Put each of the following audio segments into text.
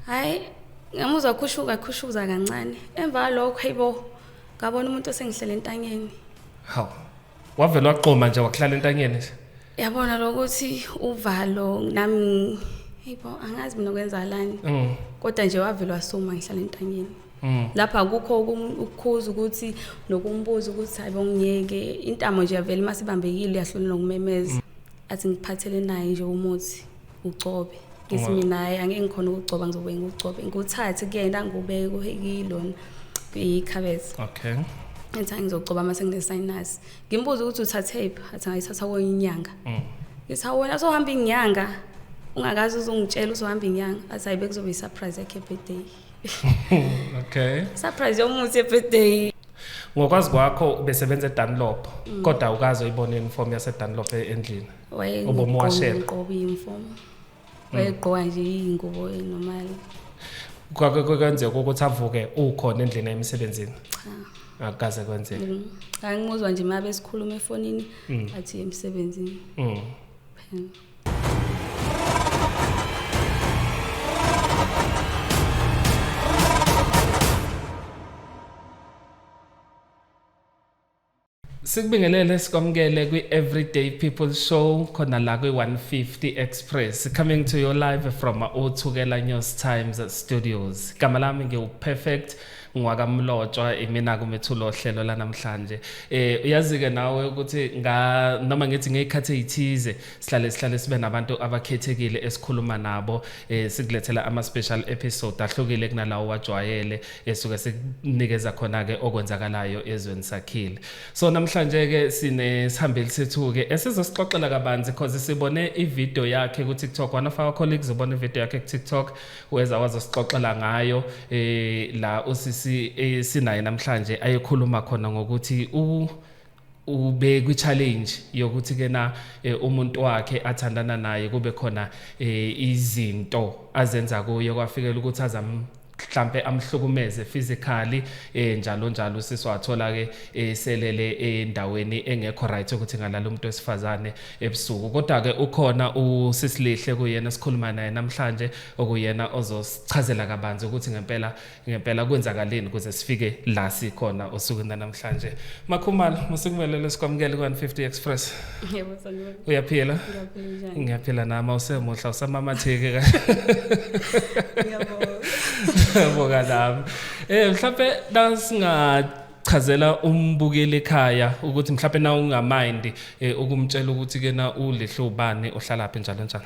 hhayi ngamuzwa khushuka khushuza kancane emva kwalokho hayibo ngabona umuntu osengihlele entanyeni hawu wavele waqoma nje wakuhlala entanyeni nje yabona lokuthi uvalo nami hayibo angazi mina kwenzakalani mm. kodwa nje wavele wasuma ngihlala entanyeni mm. lapha kukho ukukhuza ukuthi nokumbuza ukuthi hayibo ngiyeke intamo nje yavele uma sibambekile uyahlonela ukumemeza mm. athi ngiphathele naye nje umuthi ugcobe ngithi mina hayi angeke ngikhona ukugcoba ngizobe ngigcobe nguthathe kuyena ngubeke kuyilona kuyikhabethe okay ethi angizogcoba uma senginesinus ngimbuza ukuthi uthathephi athi ngayithatha kwenye inyanga mm. ngithi awona sohamba inyanga ungakazi uzongitshela uzohamba inyanga athi hayi bekuzobe i-surprise yakhe birthday okay surprise yomuthi ebirthday ngokwazi kwakho ubesebenza eDunlop mm. kodwa ukaze uyibone uniform yaseDunlop e-, endlini obomuwashela uqoba imfo hmm. wayegqoka nje iyingubo enormal kwenzeka ukuthi avuke ukhona endlini emsebenzini cha akaze kwenzeka hmm. angimuzwa nje mabe sikhuluma efonini hmm. athi emsebenzini mhm Sikubingelele sikwamukele kwi Everyday People Show khona la kwi 150 Express coming to you live from Uthukela News Times Studios. Igama lami ngiwu Perfect ngwakamlotshwa imina kumethulo hlelo lanamhlanje. Eh uyazi ke nawe ukuthi nga noma ngithi ngekhathi ezithize sihlale sihlale sibe nabantu abakhethekile esikhuluma nabo eh, sikulethela ama special episode ahlukile kunalawo wajwayele esuke eh, sikunikeza khona ke okwenzakalayo ezweni sakhile so namhlanje ke sine sihambeli sethu ke esizosixoxela kabanzi because sibone i video yakhe ku TikTok one of our colleagues ubone video yakhe ku TikTok weza wazosixoxela ngayo eh la usisi eh, sinaye namhlanje ayekhuluma khona ngokuthi u ube kwi challenge yokuthi kena eh, umuntu wakhe athandana naye kube khona eh, izinto azenza kuye kwafikela ukuthi azam mhlambe amhlukumeze physically eh njalo njalo sisi wathola ke eh, selele endaweni engekho right ukuthi ngalala umuntu wesifazane ebusuku kodwa ke ukhona usisilihle kuyena sikhuluma naye namhlanje okuyena ozosichazela kabanzi ukuthi ngempela ngempela kwenzakaleni kuze sifike la sikhona osuku namhlanje makhumalo musikumelele sikwamukele ku-150 express yebo sanibona uyaphila ngiyaphila nama usemuhla usamamatheke ka ngiyabonga nami eh mhlawumbe nasinga chazela umbukeli ekhaya ukuthi mhlawumbe na ungamind eh, ukumtshela ukuthi ke na ulihlobani ohlalaphi njalo njalo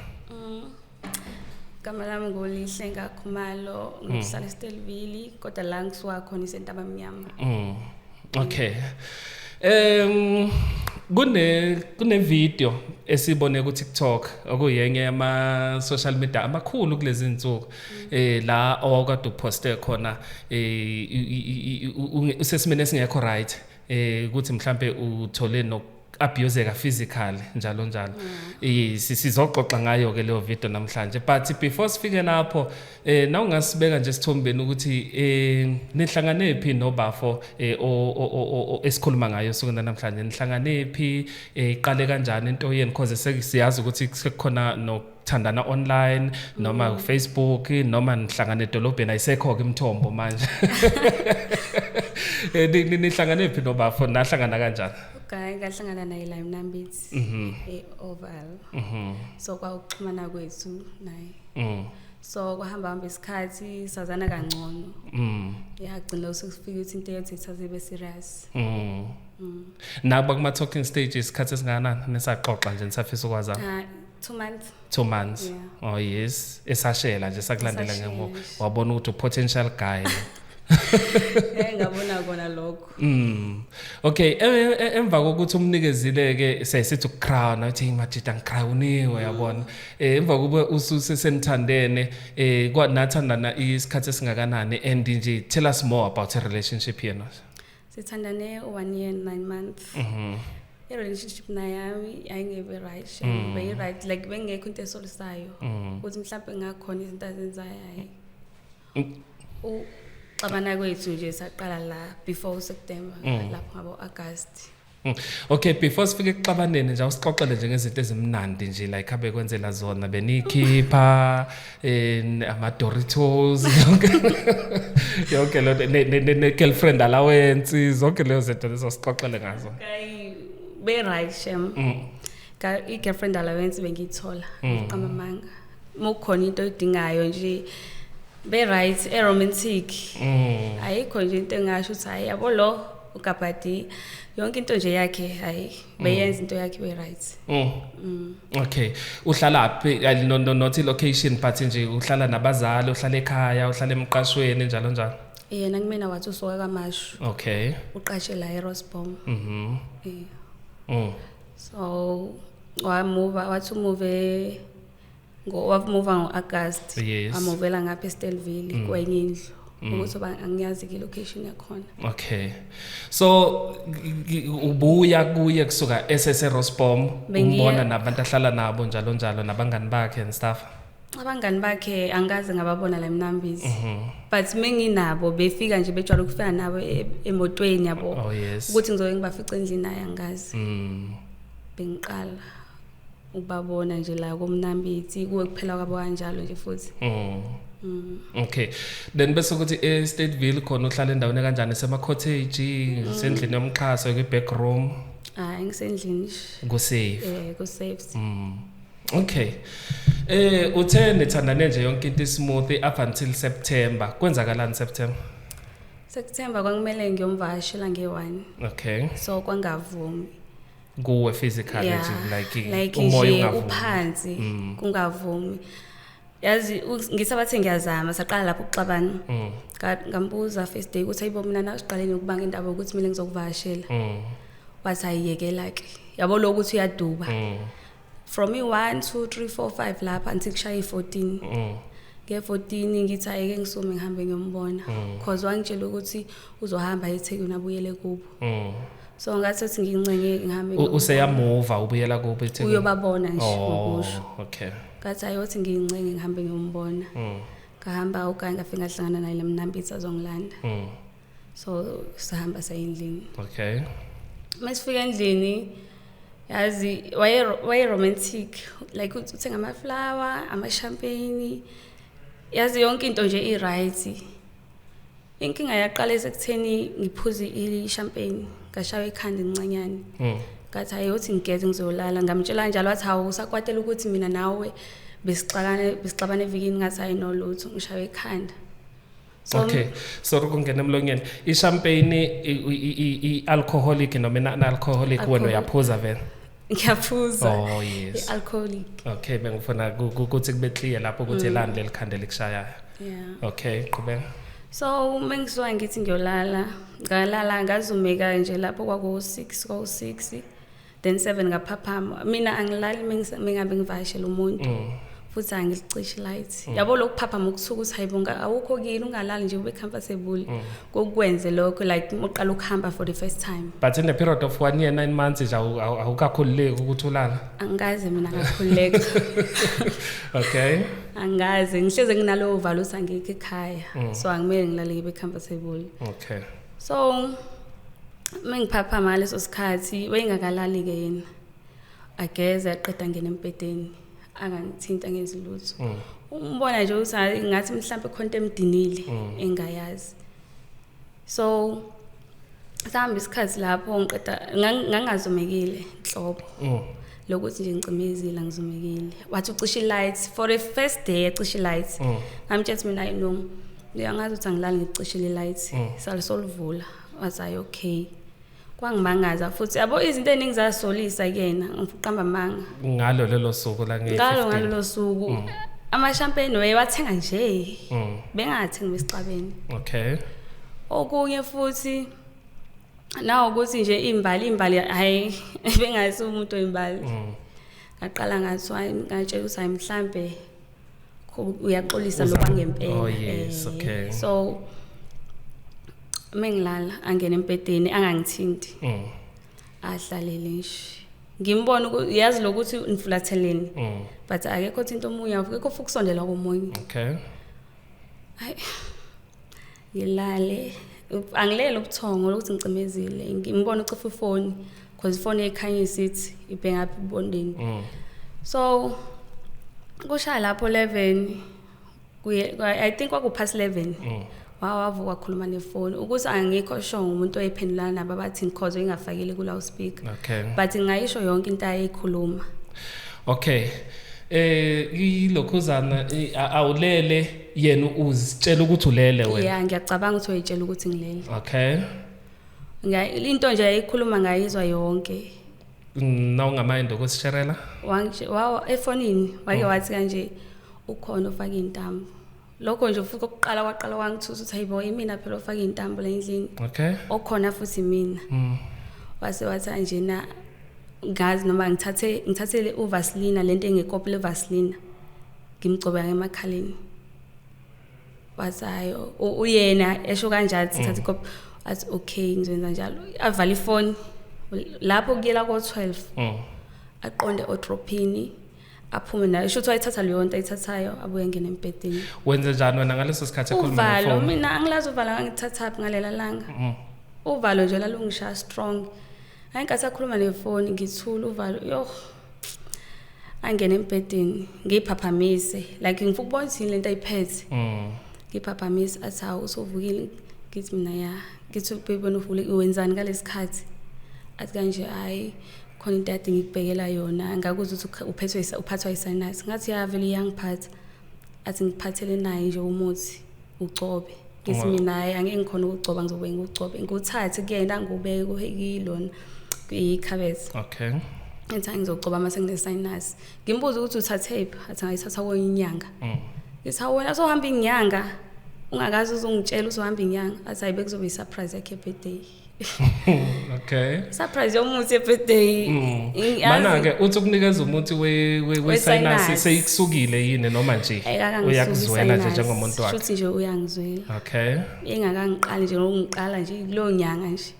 igama lami ngulihle ngakhumalo mm. ngihlala estelvili kodwa la ngisuka khona isentaba mnyama mm. okay um kune kune video esibone ku TikTok okuyenye yama social media amakhulu kulezi insuku mm. eh la owakade uposte khona eh usesimene singekho right eh ukuthi mhlambe uthole abuseka physically njalo njalo mm. sizoxoxa ngayo ke leyo video namhlanje but before sifike lapho eh nawungasibeka nje sithombeni ukuthi eh nihlangane phi nobafo eh esikhuluma ngayo sokuna namhlanje nihlangane phi eh iqale kanjani into yenu because sesiyazi ukuthi sekukhona no thandana online noma mm. Facebook noma nihlangana edolobheni ayisekho ke imithombo manje eh, nihlangane phi nobafo nahlangana kanjani okay ngahlangana naye la Mnambithi mhm. e Oval mhm. so kwawuxhumana kwethu naye mm. so kwahamba hamba isikhathi sazana kangcono mm. yagcina usukufika ukuthi into yethu ithaze be serious mm. mm. nakuba kuma talking stages isikhathi esingakanani nisaxoxa nje nisafisa ukwazana two months two months yeah. oh yes esashela nje sakulandela ngemuva wabona ukuthi potential guy Eh ngabona kona lokho. Mm. Okay, e, e, e, emva kokuthi umnikezile ke sesithi ukucrown uthi majita ngicrowniwe yabona. Eh emva kube ususe senithandene eh kwa nathandana isikhathi esingakanani and nje tell us more about a relationship here now. sithandane one year and nine months mhm i-relationship nayami yayingebe right she mm. beyi-right like bengekho into esolisayo mm. ukuthi mhlawumbe ngakhona izinto azenzayo hayi mm. xabana kwethu nje saqala la before useptember lapho ngabo-agasti Hmm. Okay, before sifike kuxabaneni nje usixoxele nje ngezinto ezimnandi nje like abe kwenzela zona benikhipha in eh, ama Doritos yonke yonke lo ne girlfriend allowance zonke lezo zinto lezo sixoxele ngazo. Okay, be right shem. Mm. Ka i girlfriend allowance bengiyithola hmm. qamba manga. Mukhona into oyidingayo nje be right e romantic. Mm. Ayikho nje into engasho ukuthi hayi yabo lo ugabhadi yonke into nje yakhe hayi beyenza into yakhe we right mm. mm. okay uhlala phi no, no, not location but nje uhlala nabazali uhlala ekhaya uhlala emqashweni njalo njalo yena kumina wathi usuka kamashu okay uqashe la erosbom mhm yeah. mm. so wamuva wathi umuve wamuva ngo-agast yes. amuvela ngapha estelville mm. kwenye indlu mm. ukuthi uba angiyazi ki-location yakhona okay so ubuya kuye kusuka eseserosbom umbona nabantu ahlala nabo njalo njalo nabangani bakhe and stuff abangani bakhe angikaze ngababona la mnambizi mhm. but menginabo befika nje bejwayele ukufika nabo e, emotweni yabo oh, ukuthi ngizoke ngibafice endlini naye angikazi mm. bengiqala ukubabona nje la komnambithi kuwe kuphela kwabo kanjalo nje futhi mm. Mm. Okay. Then bese ukuthi e Stateville khona uhlala endaweni kanjani esema cottage, mm. sendlini yomxhaso ke back room. Ah, ngisendlini. Ku safe. Eh, ku safe. Mm. Okay. Eh uthe nithandane nje yonke into smooth up until September. Kwenzakalani September? September kwakumele ngiyomvashela nge-1. Okay. So kwangavumi. kuwe physical yeah. like like nje uphansi mm. kungavumi yazi ngisabathe ngiyazama saqala lapho ukuxabana mm. ngambuza first day ukuthi ayibo mina nasiqaleni ukubanga indaba ukuthi mina ngizokuvashela mm. wathi ayiyekela ke yabo lo ukuthi uyaduba mm. from i-1 2 3 4 5 lapha until kushaya i-14 mm. nge-14 ngithi ayeke ngisume ngihambe ngiyombona mm. cause wangitshela ukuthi uzohamba ethekwini abuyele kubo mm. so ngathi ethi ngincenye ngihambe useyamuva ubuyela kubo ethekwini uyobabona nje oh, ngokusho okay ngathi ayothi ngincenye ngihambe ngiyombona ngahamba ukanti ngafika ngahlangana naye lemnambitha azongilanda so sahamba sayendlini okay masifika endlini yazi waye romantic like uthenga ama flower ama champagne yazi yonke into nje i right inkinga yaqala esekutheni ngiphuze i champagne ngashawa ikhanda incanyane mm. ngathi hayi uthi ngigeze ngizolala ngamtshela njalo wathi hawu usakwatela ukuthi mina nawe besixabane besixabane evikini ngathi hayi nolutho ngishawa ikhanda okay so ri ku nghena emlonyeni i-champagne i-alcoholic noma ina-alcoholic wena uyaphuza vele ngiyaphuza oh yes i-alcoholic okay bengifuna ukuthi kube clear lapho ukuthi mm. elani leli khanda elikushayayo yeah okay qhubeka so uma ngisuka ngithi ngiyolala ngalala ngazumeka nje lapho kwaku-six kwaku-six then 7 ngaphaphama mina angilali mingabe ngivakashela umuntu mm. futhi angilicishi light mm. yabo lokuphaphama ukuthuka ukuthi hayibo awukho kini ungalali nje ube comfortable mm. kokwenze lokho like uqala ukuhamba for the first time but in the period of one year nine months nje awukakhululeki ukuthi ulala angikaze mina ngakhululeka okay angikaze ngihleze nginalowo valo ukuthi angikho ekhaya so angimele ngilale ngibe comfortable okay so uma ngiphaphama ngaleso sikhathi wayingakalali-ke yena ageze aqeda ngena embhedeni angangithinti angenzi lutho mm. umbona nje ukuthi ngathi mhlawumbe khona into emdinile mm. engayazi so sahamba isikhathi lapho ngiqeda ngangazomekile nhlobo mm. lokuthi nje ngicimezile ngizomekile wathi ucisha i-light for the first day ecisha i-light ngamtshela ukuthi mina ayinoma uyangazi ukuthi angilali ngicishile i-light salisolivula was i okay kwangimangaza futhi yabo izinto eningi zasolisa kuyena ngifuqamba amanga ngalo lelo suku la ngiyi ngalo ngalelo suku mm. amashampeni wayewathenga nje mm. bengathengi besixabeni okay okunye futhi nawo ukuthi nje imbali imbali hayi bengazi umuntu oyimbali mm. ngaqala ngathi ngatshela ukuthi hayi mhlambe uyaxolisa Uza- loba ngempela Oh, yes, Eh, okay. so uma ngilala angene embhedeni angangithinti Mm, ahlalele nje ngimbona uku- yazi lokuthi nifulatheleni mm, but akekho thinto omunye akekho futhi ukusondela komunye okay. Hayi. ngilale angilele ubuthongo lokuthi ngicimezile ngimbona ucofa ifoni because ifoni ekhanya isithi ibhengaphi ibondeni mm. so kushaya lapho 11 kuye i think kwakupast 11 mm. wawavuka wakhuluma nefoni ukuthi angikho sho umuntu oyiphendulana nabo abathi ngikhozo ingafakile kula uspeaker okay. but ngayisho yonke into ayikhuluma okay eh ilokhuzana awulele yena uzitshela ukuthi ulele wena yeah ngiyacabanga ukuthi uyitshela ukuthi ngilele okay into nje yayikhuluma ngayizwa yonke nawungamayindi okusisherela efonini wake oh. wathi kanje ukhona ofake iy'ntambo lokho nje futhi kokuqala kwaqala kwangithusa ukuthi hayibo imina phela ofake iy'ntambo la endlini okay okhona futhi mina mm. wase wathi anjena ngazi noma ngithathe ngithathele uvasilina le nto engekopile uvasilina ngimgcobeka emakhaleni wathi hayi uyena esho kanjalo thatha mm. ikopi athi okay ngizoyenza njalo avala ifoni lapho kuyela ko-12 mm. aqonde odrophini aphume nayo sho ukuthi wayithatha leyo nto ayithathayo abuye ngene embhedeni wenze njani wena ngaleso sikhathi ekhulumuvalo mina angilazi uvala ngangithathaphi ngalela langa mm. uvalo nje lalungishaya strong ayinkathi akhuluma nefoni ngithula uvalo yoh angene embhedeni ngiyiphaphamise like ngifuna ukubona ukuthi yini lento ayiphethe mm. ngiyiphaphamise athi hawu usuvukile ngithi mina ya ngithi baby wena uvule wenzani ngalesi khathi athi kanje hayi khona into yade ngikubhekela yona ngakuzwa ukuthi uphethwe uphathwa yisinus ngathi ya vele iyangiphatha athi ngiphathele naye nje umuthi ugcobe ngithi mina hayi angeke ngikhona ukugcoba ngizobe ngikugcobe ngikuthathe kuyena ngikubeke kuyilona kuyikhabethe okay ethi angizogcoba uma senginesinus ngimbuza ukuthi uthathephi athi ngayithatha kwenye inyanga mm. ngithi wena sohamba inyanga ungakazi uzongitshela uzohamba inyanga athi hayi bekuzobe i-surprise yakhe birthday okay surprise yomuthi ebirthday mm. mana ke uthi ukunikeza umuthi we we sinus seyikusukile yini noma nje uyakuzwela nje njengomuntu wakhe futhi nje uyangizwela okay engakangiqali nje ngokungiqala nje kulo nyanga nje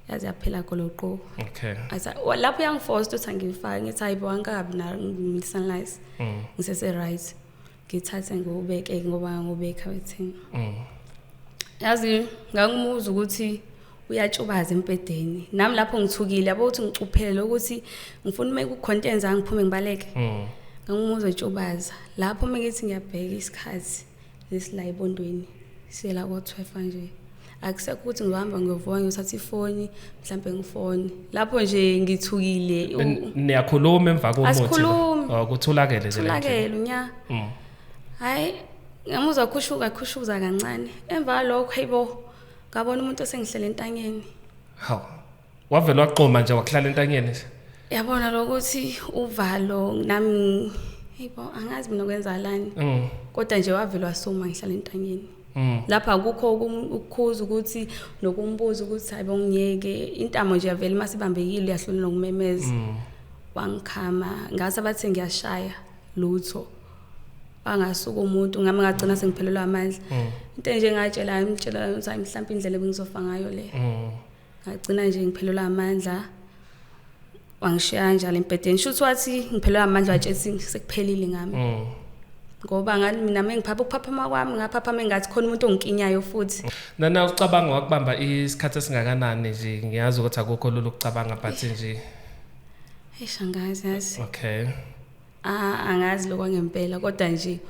yazi yaphela goloqo okay asa lapho uyangiforce ukuthi angifake ngithi hayibo angikabi na ngisanlize mm. ngisese right ngithathe ngiwubeke ngoba ngangiwubeka wethini mm. yazi ngangumuza ukuthi uyatshubaza empedeni nami lapho ngithukile yabo ukuthi ngicuphele ukuthi ngifuna uma kucontent zange ngiphume ngibaleke mm. ngangumuza etshubaza lapho uma ngithi ngiyabheka isikhathi lesila ebondweni siyela ko-12 kanje akusekho ukuthi ngihamba ngiyovuka ngiyothatha ifoni mhlawumbe ngifone lapho nje ngithukile niyakhuluma emva komuthikutholakele oh, tholakele nya mm. hhayi ngamuzwa khushuka khushuza kancane emva kwalokho hayibo ngabona umuntu osengihlele entanyeni hawu wavele waqoma nje wakuhlala entanyeni nje yabona lokuthi uvalo nami hayibo angazi mina kwenzakalani mm. kodwa nje wavele wasuma ngihlala entanyeni mm. lapha akukho ukukhuza ukuthi nokumbuza ukuthi hayibo ngiyeke intamo nje yavele uma sibambekile uyahlula nokumemeza mm. wangikhama ngase bathi ngiyashaya lutho angasuka umuntu ngami ngagcina sengiphelelwa amandla into nje ngatshela ngitshela ukuthi mhlawumbe indlela bengizofa ngayo le ngagcina nje ngiphelelwa amandla wangishiya njalo embhedeni shuthi wathi ngiphelelwa amandla watshethi sekuphelile ngami mm. ngoba ngathi mina mengiphapha ukuphaphama kwami ngaphaphama engathi khona umuntu ongikinyayo futhi nana ucabanga wakubamba isikhathi esingakanani nje ngiyazi ukuthi akukho lulu ukucabanga but nje Eish angazi yazi. Okay. Ah angazi lokho ngempela kodwa nje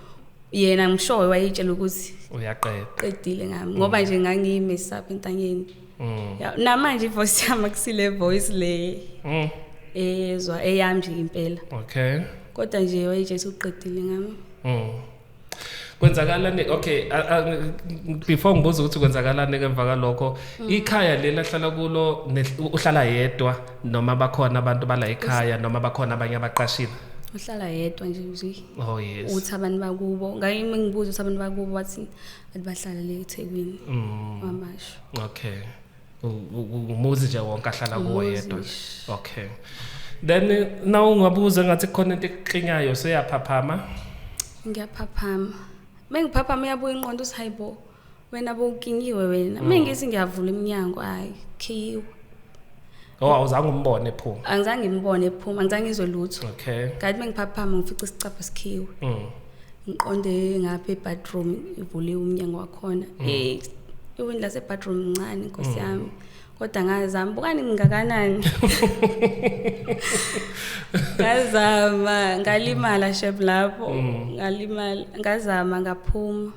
yena ngishoyo wayitshela ukuthi uyaqeda qedile ngami ngoba nje ngangiyimesapha entanyeni mm. namanje ivoice yami akusile voice le mm. eyezwa eyami nje impela okay kodwa nje wayitshela ukuthi uqedile ngami mm. kwenzakalani okay before ngibuza ukuthi kwenzakalani emva kalokho mm. ikhaya leli ahlala kulo uhlala yedwa noma bakhona abantu bala ekhaya noma bakhona abanye abaqashile uhlala yedwa nje nje oh yes uthi abantu bakubo ngaye ngibuza ukuthi abantu bakubo wathi athi bahlala le eThekwini mm. kwamasho okay umuzi nje wonke ahlala kuwo yedwa okay then eh, na ungabuza ngathi khona into ekuklinyayo seyaphaphama ngiyaphaphama mengiphaphama uyabuya inqondo uthi hayibo wena bowukingiwe wena mm. mengithi ngiyavula iminyango hayi khiyiwe Oh awuzange umbone ephuma. Angizange ngimbone ephuma, angizange ngizwe lutho. Okay. Kanti mengiphaphama ngifica isicapha sikhiwe. Mhm. Ngiqonde ngapha ebathroom ivuliwe umnyango wakhona. Mm. Eh iwini lase bathroom incane inkosi mm. yami. Kodwa ngazama bukani ngingakanani. Ngazama ngalimala shep lapho. Mm. Ngalimala ngazama ngaphuma.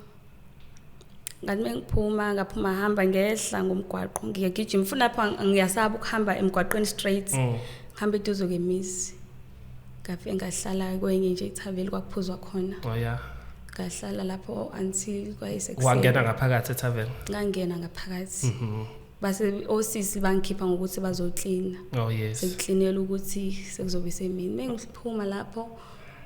ngathi uma ngiphuma ngaphuma hamba ngehla ngomgwaqo ngiyagijima futhi lapho ngiyasaba ukuhamba emgwaqweni straight mm. ngihamba eduze kemizi ngafike ngahlala kwenye nje ithaveli kwakuphuzwa khona oh, yeah. ngahlala lapho until kwayisekuseni wangena ngaphakathi ethaveni ngangena ngaphakathi mm -hmm. base osisi bangikhipha ngokuthi bazoklina oh yes sekuklinela ukuthi sekuzobe semini mengiphuma lapho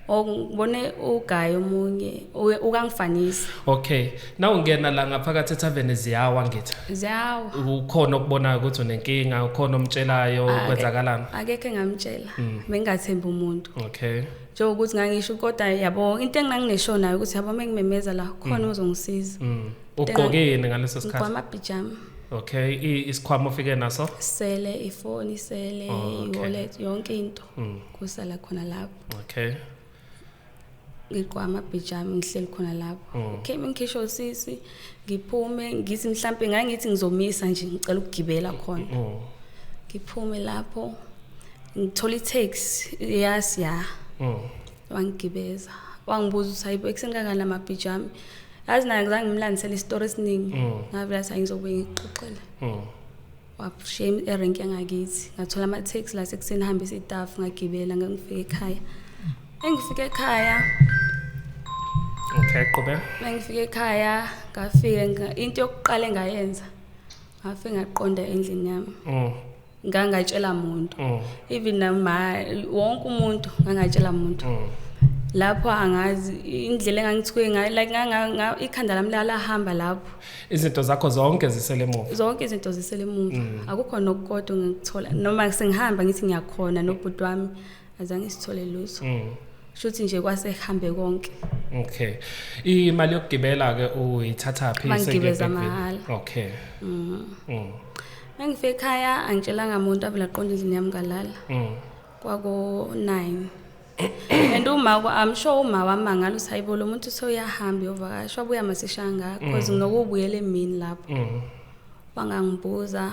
ngibone ugayi omunye ukangifanisa okay naw ngena la ngaphakathi ethaveni ziyawa ngithi ziyawa ukhona okubonayo ukuthi unenkinga ukhona omtshelayo kwenzakalana akekho engamtshela mm. bengathembi umuntu okay njengokuthi ngangisho kodwa yabo into enginangineshonayo ukuthi yabo mengimemeza la khona mm. ozongisiza mm. ugqokeni ngaleso sikhathi ngigqoka amabhijama okay isikhwama ofike naso sele ifoni sele oh, okay. wallet yonke into mm. kusala khona lapho okay ngigqoka amabhijama ngihleli khona lapho mm. okay ngikhishwa usisi ngiphume ngithi mhlambe ngangithi ngizomisa nje ngicela ukugibela khona mm. ngiphume lapho ngithola i-tax yas ya mm. wangigibeza wangibuza ukuthi hayibo ekuseni kangani la mabhiji ami yazi naye ngizange ngimlandisele isitori esiningi mm. ngavela sa ngizobuye ngixoxele mm. washiya erenki yangakithi ngathola ama-taxi la sekuseni hambisa itafu ngagibela ngangifika ekhaya engifika ekhaya okay qhubeka mengifika ekhaya ngafike into yokuqala engayenza afe ngaqonda endlini yami mm. ngangatshela muntu mm. even nama wonke umuntu ngangatshela muntu mm. lapho angazi indlela engangithuke ngayo like nganga ikhanda lami lalahamba lapho izinto zakho zonke zisele emuva zonke izinto zisele emuva mm. akukho nokukodwa ngikuthola noma sengihamba ngithi ngiyakhona nobhuti wami azange sithole lutho mm. shuthi nje kwase hambe konke okay imali yokugibela ke uyithatha phi sengigibeza mahala okay mhm mm. engifika ekhaya angitshelanga umuntu avela qonda izini yami ngalala mm. kwako 9 and uma I'm sure uma wamangala usayibo lo muntu soyahamba yovakasha wabuya masishanga because mm. nokubuyela emini lapho mm. wangangibuza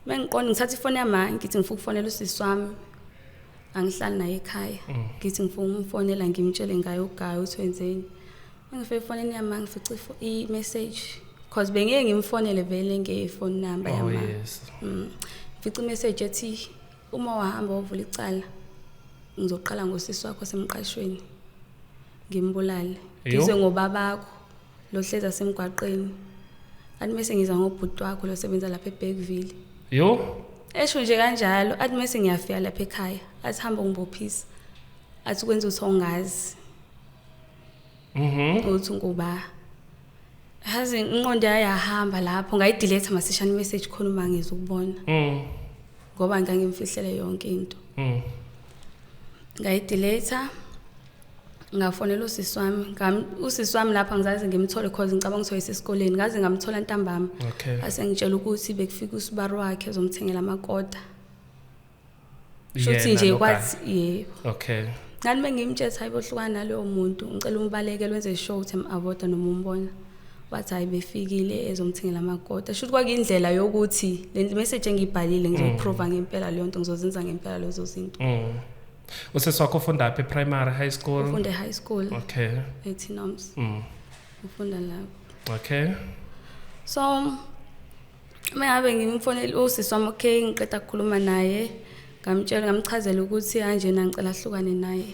mengiqonda ngithatha ifoni yami ngithi ngifuna ukufonela usisi wami angihlali naye ekhaya mm. ngithi ngifuna umfonela ngimtshele ngayo ugayo ukuthi wenzeni engifike efonini yami ngifica i-message because bengeke ngimfonele vele ngefoni number oh, yami mm. ngifica i-message ethi Uma wahamba wovula icala ngizoqala ngosisi wakho semqashweni ngimbulale ngizwe ngobabakho lo hleza semgwaqeni athi mese ngiza ngobhuti wakho lo sebenza lapha eBergville yo esho nje kanjalo athi mese ngiyafika lapha ekhaya athi hamba ungibophisa athi kwenza ukuthi ongazi mhm uthi ngoba hazi inqondo yayahamba lapho ngayidelete masishane message khona uma ngizokubona mhm ngoba ngangimfihlele yonke into mhm ngayidelete ngafonela usisi wami ngam usisi wami lapha ngizaze ngimthole cause ngicabanga ukuthi wayesesikoleni ngaze ngamthola ntambama okay asengitshela ukuthi bekufika usibari wakhe uzomthengela amakota shuthi nje kwathi yebo okay ngani mengimtshela hayi bohlukana nalowo muntu ngicela umbaleke lwenze show ukuthi avoda noma umbona wathi hayi befikile ezomthengela amakota shuthi kwakuyindlela yokuthi le message engiyibhalile ngizoyiprova mm. ngempela leyo nto ngizozenza ngempela lezo zinto mm. usesi wakho ufunda phi primary high school ufunde high school okay ethinoms mm. ufunda lapho okay so uma ngabe ngimfonele usisi wami okay ngiqeda kukhuluma naye ngamtshela ngamchazela ukuthi kanjena ngicela ahlukane naye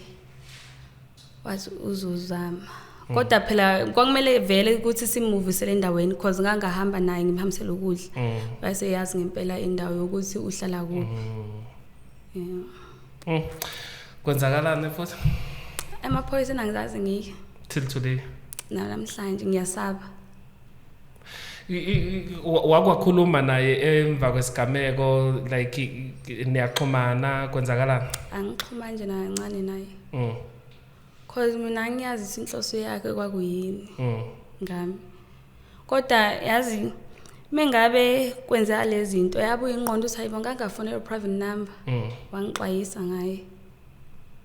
wathi uzozama hmm. kodwa phela kwakumele vele ukuthi simuvisele endaweni cause ngangahamba naye ngimhambisele ukudla hmm. base yazi ngempela indawo yokuthi uhlala kuphi hmm. yeah kwenzakalani futhi amaphoyisa enangizazi ngike till today namhlanje ngiyasaba wakwakhuluma naye emva kwesigameko like niyaxhumana kwenzakala angixhuma nje nakancane naye mm. cause mina ngiyazi ukuthi inhloso yakhe kwakuyini mm. ngami kodwa yazi mengabe kwenzeka lezi zinto yabuye inqondo uthi hayibo ngangafonela private number mm. wangixwayisa ngaye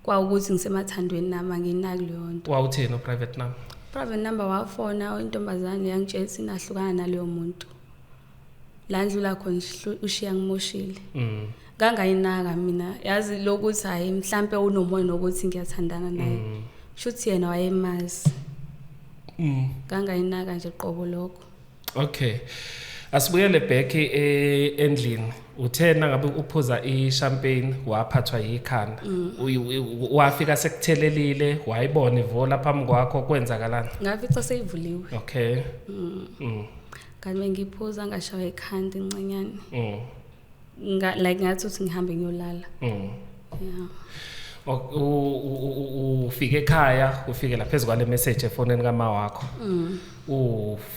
kwawukuthi ngisemathandweni nami anginaki leyo nto wawutheni uprivate number private number wafona intombazane yangitshela ukuthi nahlukana naleyo muntu la ndlula khona ushiya ngimoshile mm. kangayinaka mina yazi lokuthi hayi mhlampe unomoya nokuthi ngiyathandana naye mm. shuthi yena wayemazi mm. kangayinaka nje qobo lokho okay asibuyele back e, endlini uthe nangabe uphuza i-champagne waphathwa yikhanda mm. wafika sekuthelelile wayibona ivola phambi kwakho kwenzakalani ngafica seyivuliwe okay mm. Mm. kanti bengiphuza ngashaywa ikhanda incenyane nga like ngathi uthi ngihambe ngiyolala mm. yeah ufike ekhaya ufike la phezulu kwale message efonini kama wakho mm.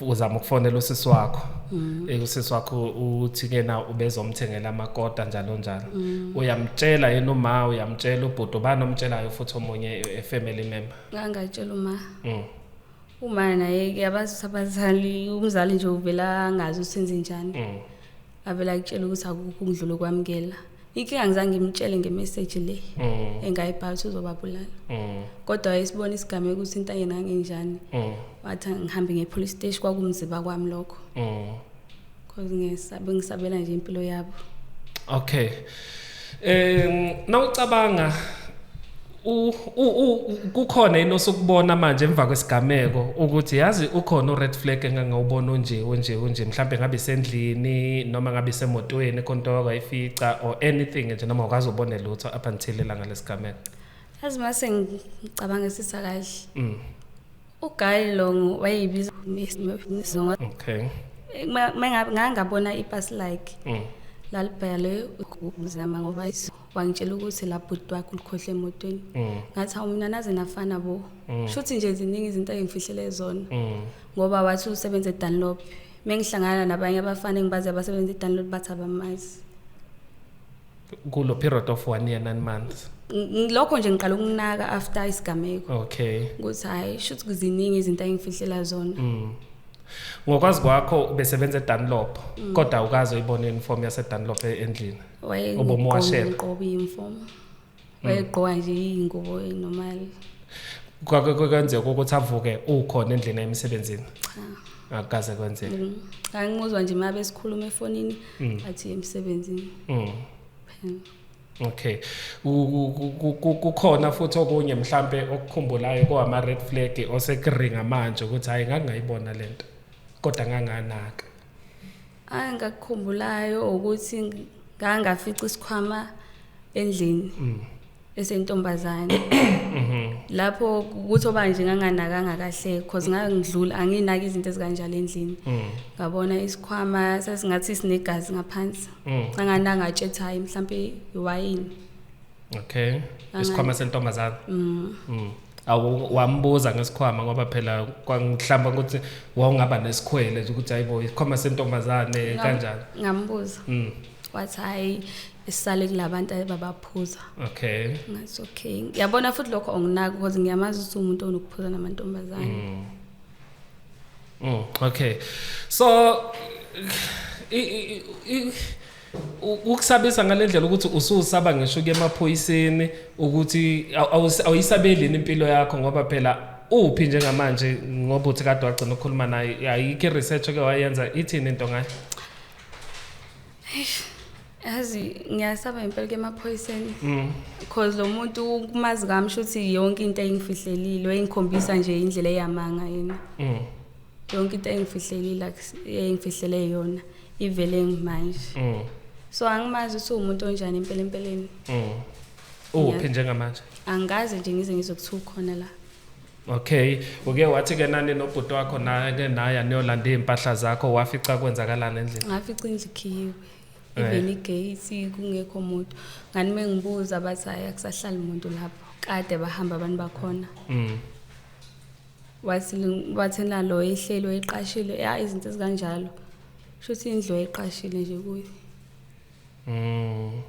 uzama ukufonela usisi wakho mm. eh, usisi wakho uthi kena ubezomthengela amakota njalo njalo mm. uyamtshela yena uma uyamtshela ubhuti ubani omtshelayo futhi omunye efamily eh, member ngangatshela uma uma naye ke abazi abazali umzali nje uvela angazi usenze njani avela kutshela ukuthi akukho ukudlula ukwamukela inkinga ngizange ngimtshele ngemeseji le mm. engayibhala ukuthi uzobabulala mm. kodwa wayesibona isigameko ukuthi into yena ngenjani mm. wathi ngihambe ngepolice station kwakumziba kwami lokho because ngisabe ngisabela nje impilo yabo okay Eh nawucabanga u kukhona yini osukubona manje emva kwesigameko ukuthi yazi ukhona ured flag engangawubona onje onje onje mhlambe ngabe sendlini noma ngabe semotweni konto wakayifica or anything nje noma ukazi ubone lutho up until ilanga lesigameko yazi mase ngicabanga sisa kahle mm. uGail Longo wayeyibiza isizonga okay ngangabona ipasi like mm. lalibhale ukuzama ngoba wangitshela ukuthi la bhuti wakho ulikhohle emotweni mm. ngathi hawu mina naze nafana bo mm. shuthi nje ziningi izinto engifihlele zona mm. ngoba wathi usebenza eDunlop mengihlangana nabanye abafana engibazi abasebenza eDunlop bathi abamazi kulo period of one year nine months lokho nje ngiqala ukunaka after isigameko okay ukuthi hayi shuthi kuziningi izinto engifihlela zona mm. ngokwazi kwakho ubesebenza eDunlop mm. kodwa ukaze uyibone uniform yaseDunlop e-, endlini ubomwashela qoba uniform wayegqoka nje iy'ngubo normal kwenzeka ukuthi avuke ukhona endlini emsebenzini cha akaze kwenzeka mm. angimuzwa nje uma besikhuluma efonini mm. athi emsebenzini mm. Okay. Kukhona futhi okunye mhlambe okukhumbulayo kowama red flag osekuringa manje ukuthi hayi ngangayibona lento. Kodwa nganganaka. Angakukhumbulayo ukuthi ngangafica isikhwama endlini. Mm. esentombazane mhm. lapho ukuthi oba nje nganganakanga kahle because ngangidlula anginaki izinto ezikanjalo endlini mm. ngabona isikhwama sasingathi sinegazi ngaphansi mm. angananga atshethayi mhlampe iwayini okay isikhwama sentombazana mm. mm. awu wambuza ngesikhwama ngoba phela kwangihlamba ukuthi wawungaba nesikhwele ukuthi hayibo isikhwama sentombazane kanjani ngambuza mm. wathi hayi isale kulabantu ababaphuza okay ngathi okay ngiyabona futhi lokho onginaka because ngiyamazi ukuthi umuntu onokuphuza namantombazane mm. mm okay so i, i, i, ukusabisa ngale ndlela ukuthi ususaba ngisho kuye emaphoyiseni ukuthi awuyisabelini impilo yakho ngoba phela uphi njengamanje ngoba uthi kade wagcina ukukhuluma naye ayikho i-research oke wayenza ithini into ngayo yazi ngiyasaba impela ke emaphoyiseni mm. because lo muntu kumazi kami shuthi yonke into engifihlelile wayengikhombisa nje indlela eyamanga yena mm. yonke into engifihlelile engifihlele yona ivele manje mm. so angimazi ukuthi uwumuntu onjani impela empeleni mm. uphi njengamanje angikaze nje ngize ngizokuthiwa ukhona la okay uke wathi ke nani nobhuti wakho nake naye aniyolanda iy'mpahla zakho wafica kwenzakalani endlini ngafica indlu ikhiyiwe eh. even igate kungekho muntu ngani uma ngibuza bathi hayi akusahlali muntu lapho kade bahamba abantu bakhona mm. wathi wathi nalo ihlelo eqashile ya izinto ezikanjalo shuthi indlu eqashile nje kuyo mm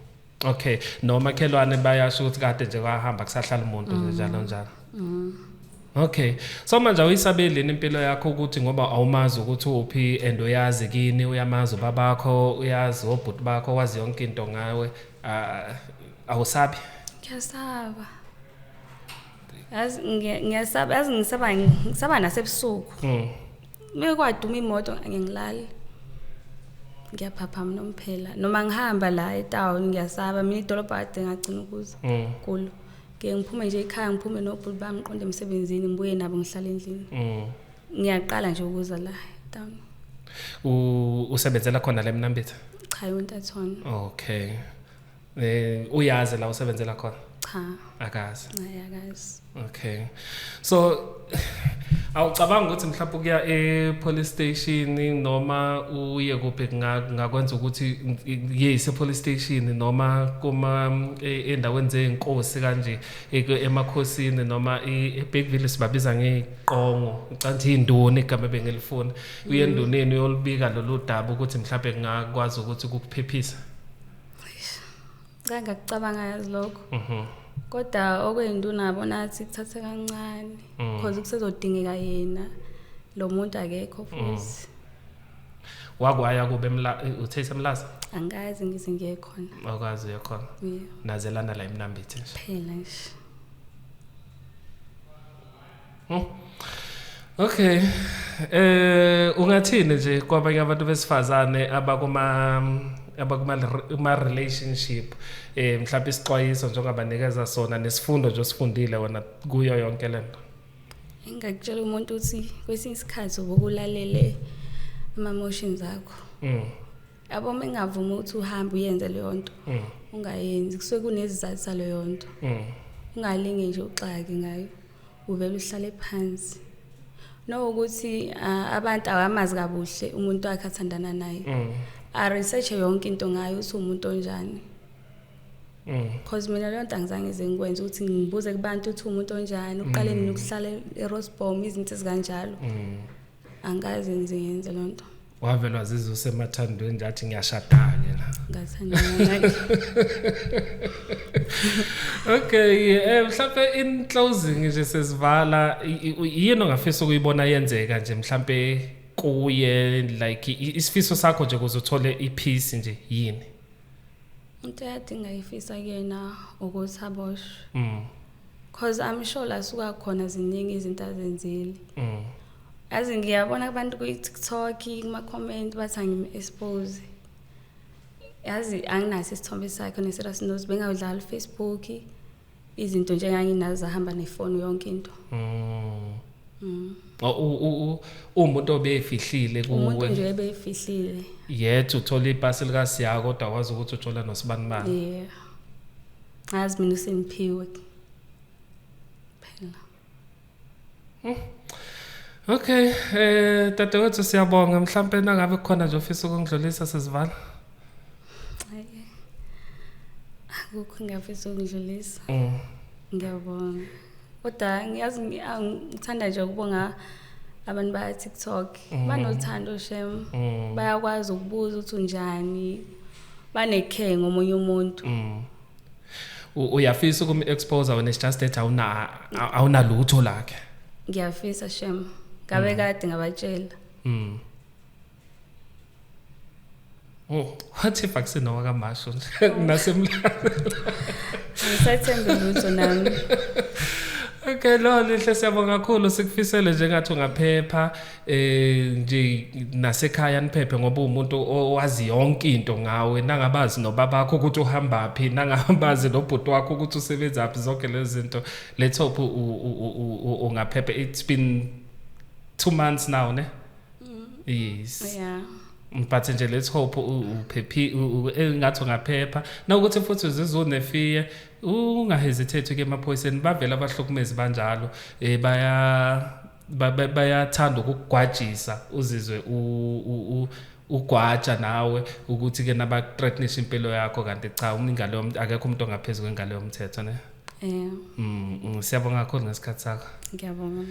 okay noma khelwane bayasho ukuthi kade nje kwahamba kusahlala umuntu mm. njalo njalo mm Okay. So manje uyisabelini impilo yakho ukuthi ngoba awumazi ukuthi uphi and uyazi kini uyamazi babakho uyazi obhuti bakho wazi yonke into ngawe awusabi. Ngiyasaba. yazi ngiya- ngiyasaba yazi ngisaba ngisaba nasebusuku Mm. uma kwaduma imoto angingilali ngiyaphaphama nomphela noma ngihamba la etown ngiyasaba mina idolobha kade ngagcina ukuza Mm. kulo ngike ngiphume nje ekhaya ngiphume nobhuti bami ngiqonde emsebenzini ngibuye nabo ngihlala endlini Mm. ngiyaqala nje ukuza la etown U- usebenzela khona la emnambithi cha yontathona okay Eh uyazi la usebenzela khona? Cha. Akazi. Hayi akazi. Okay. So awucabanga ukuthi mhlawumbe ukuya e-police station noma uye kuphi ngakwenza ukuthi yeyise police station noma kuma e, endaweni zeenkosi kanje emakhosini noma eBigville sibabiza ngeqongo ucanthi indoni igama bengelifuna uye endoneni uyolibika lolu daba ukuthi mhlawumbe ngakwazi ukuthi kukuphephisa ngicanga kucabanga yazi lokho mhm. kodwa okweyinto unabo nathi kuthathe kancane mm. because kusezodingeka yena lo muntu akekho mm. futhi wakwaya kube uthe isemlaza angazi ngize ngiye khona akwazi uye khona nazelana la imnambithi phela nje Hmm. Okay. Eh ungathini nje kwabanye abantu besifazane abakuma abakuma relationship eh mhlawumbe isixwayiso njengabanikeza sona nesifundo nje osifundile wena kuyo yonke lento engakutshela umuntu ukuthi kwesinye isikhathi ubukulalele ama emotions akho mm. yabo uma engavumi ukuthi uhambe uyenze leyo nto mm. ungayenzi kusuke kunezizathu saleyo nto mm. ungalinge nje uxaki ngayo uvele uhlale phansi nokuthi abantu awamazi kabuhle umuntu wakhe athandana naye mm. a research yonke into ngayo ukuthi umuntu onjani because mina leyo nto angizange ze ngikwenze ukuthi ngibuze kubantu ukuthi umuntu onjani uqale nini ukuhlala erosbom izinto ezikanjalo angazi ngize ngenze loo nto wavelwa zize usemathandweni ngathi ngiyashada-ke la okay um mhlampe in closing nje sesivala yini ongafisa ukuyibona yenzeka nje mhlampe kuye like isifiso sakho nje kuze uthole i-peace nje yini into eyadinga ifisa kuyena ukuthi aboshwe mm. cause I'm sure la suka khona ziningi izinto azenzile mm. as ngiyabona abantu kwi-tiktok kuma-comment bathi angim-expose yazi anginaso isithombe sakhe ne-serious notes bengawudlala ufacebook izinto nje enganginazo zahamba nefoni yonke into mm. Mm. umuntu obeyifihlile umuntu nje ebeyifihlile yet uthola ipasi likasiyako kodwa wazi ukuthi uthola nosibanibani yeah ngazi mina usengiphiwe phela hmm. okay eh dadewethu siyabonga mhlawumbe nangabe khona nje ofisa ukungidlulisa sizivala akukho ngiyafisa ukungidlulisa hmm. ngiyabonga kodwa ngiyazi ngithanda nje ukubonga abantu baya TikTok mm. banothando shem mm. bayakwazi ukubuza ukuthi unjani banekhe ngomunye umuntu mm. uyafisa ukum expose when it's just that awuna awunalutho lakhe ngiyafisa shem ngabe mm. kade ngabatshela mm Oh, what if akusena wakamasho nasemlando. Ngisathembe lutho nami. Okay, lo lihle siyabonga kakhulu sikufisele njengathi ungaphepha. eh nje nasekhaya niphephe ngoba umuntu owazi yonke into ngawe nangabazi nobabakho ukuthi uhamba phi nangabazi nobhuti wakho ukuthi usebenza phi zonke lezi zinto let's hope ungaphephe it's been 2 months now ne mm. yes yeah but nje let's hope uphephi eh, ngathi ungaphepha nawukuthi futhi uzizonefiye ungahesitate ke emaphoyiseni bavela abahlukumezi banjalo eh baya bayathanda ukugwajisa uzizwe ugwaja nawe ukuthi ke nabathreatnisha impilo yakho kanti cha umingalo yomuntu akekho umuntu ongaphezulu kwengalo yomthetho ne Eh. Mm, mm, siyabonga kakhulu ngesikhathi sakho. Ngiyabonga.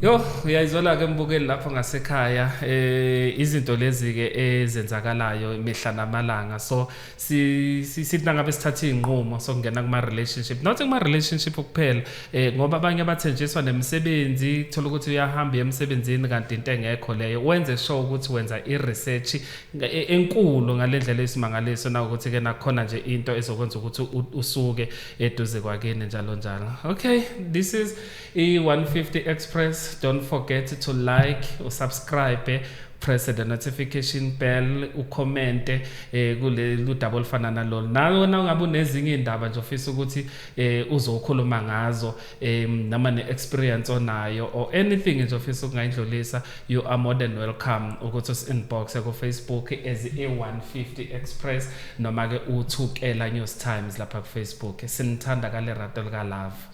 Yo, uyayizwela ke mbukeli lapho ngasekhaya eh izinto lezi ke ezenzakalayo imihla namalanga. So sithi nangabe sithatha iy'nqumo sokungena kuma-relationship not kuma-relationship kuphela um eh, ngoba abanye abathenjiswa nemisebenzi kuthola ukuthi uyahamba uye emsebenzini kanti into engekho leyo wenze sure ukuthi wenza i-research e, enkulu ngale ndlela esimangaliso nawukuthi-ke nakhona nje into ezokwenza ukuthi usuke eduze kwakini njalo njalo okay this is I-150 Express, don't forget to like, usubscribe, press the notification bell ukhomente eh kulolu daba olufana nalolu nawe na ungabe unezinye indaba nje ofisa ukuthi eh uzokhuluma ngazo eh nama ne experience onayo or anything nje ofisa ukungayidlulisa you are more than welcome ukuthi us inbox ku Facebook as a150 express noma ke uthukela news times lapha ku Facebook sinithanda kale rato lika love